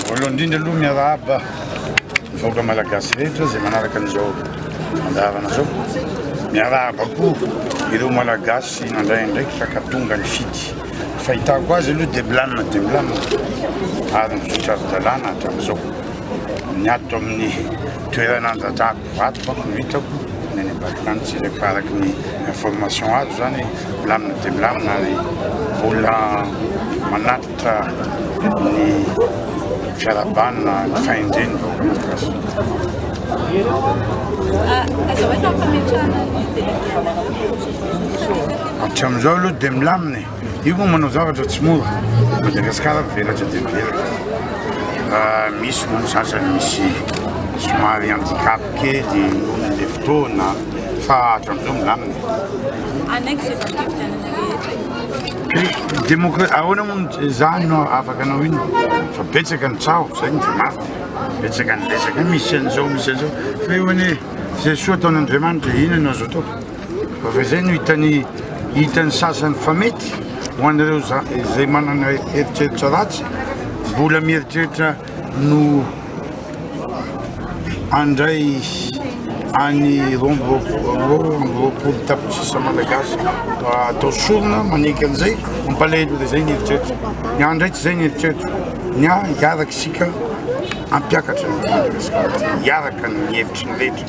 Voalohany indrindra aloha miarahaba ny vahoaka malagasy rehetra izay manaraka an'izao andaharana izao. Miarahaba koa ireo malagasy nandray andraikitra ka tonga ny fidy. Fahitako azy aloha dia milamina dia milamina ary mizotra ara-dalàna hatramin'izao. Ny ato amin'ny toerana andradrako Vato manko no hitako ny any ambadikany tsy rehefa araka ny information azo zany milamina dia milamina ary mbola manatitra ny fiarahabana ny fahendreny vahoaka malagasy. Hatramin'izao aloha dia milamina e. Io moa manao zavatra tsy mora. Madagasikara mivelatra dia mivelatra. Misy moa ny sasany misy somary handicap kely nohon'ilay fotoana fa hatramin'izao milamina. Anaiky izay valim-pifidianana rehetra. Demokra- ahoana moa ny izany no afaka anao ino fa betsaka ny tsaho izay ny dia mafy betsaka ny resaka misy an'izao misy an'izao fa eo anie izay soa ataon'Andriamanitra inona no azo atao. Raha izay no hitan'ny hitan'ny sasany fa mety, ho an'ireo izay manana eritreritra ratsy, mbola mieritreritra no handray any roa amby roapolo tapitrisa malagasy atao sorona manenka an'izay, mampalahelo dia izay ny eritreritra. Ny ahy indray tsy izay ny eritreritra. Ny ahy hiaraka isika hampiakatra ny Madagasikara, hiaraka ny hevitry ny rehetra.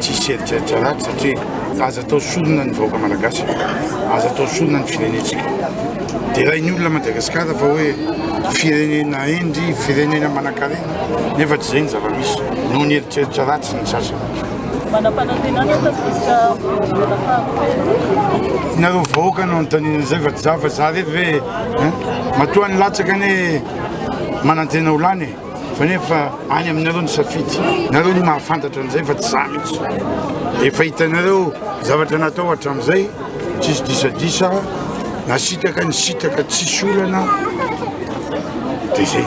Tsisy eritreritra ratsy satria aza atao sorona ny vahoaka malagasy, aza atao sorona ny firenentsika. Derain'ny olona Madagasikara fa hoe firenena hendry, firenena manankarena, nefa tsy izay ny zava-misy, noho ny eritreritra ratsy ny sasany. Manam-panantenana fa tsy misy voalohana faharoa. Nareo vahoaka no anontaniana izay fa tsy za fa za rery ve matoa ny latsaka anie manantena ho lany. Fanefa any aminareo ny safidy. Nareo no mahafantatra an'izay fa tsy za mihitsy. Efa hitanareo zavatra natao hatramin'izay, tsisy disadisa, nasitaka, nisitaka, tsisy olana, dia zay.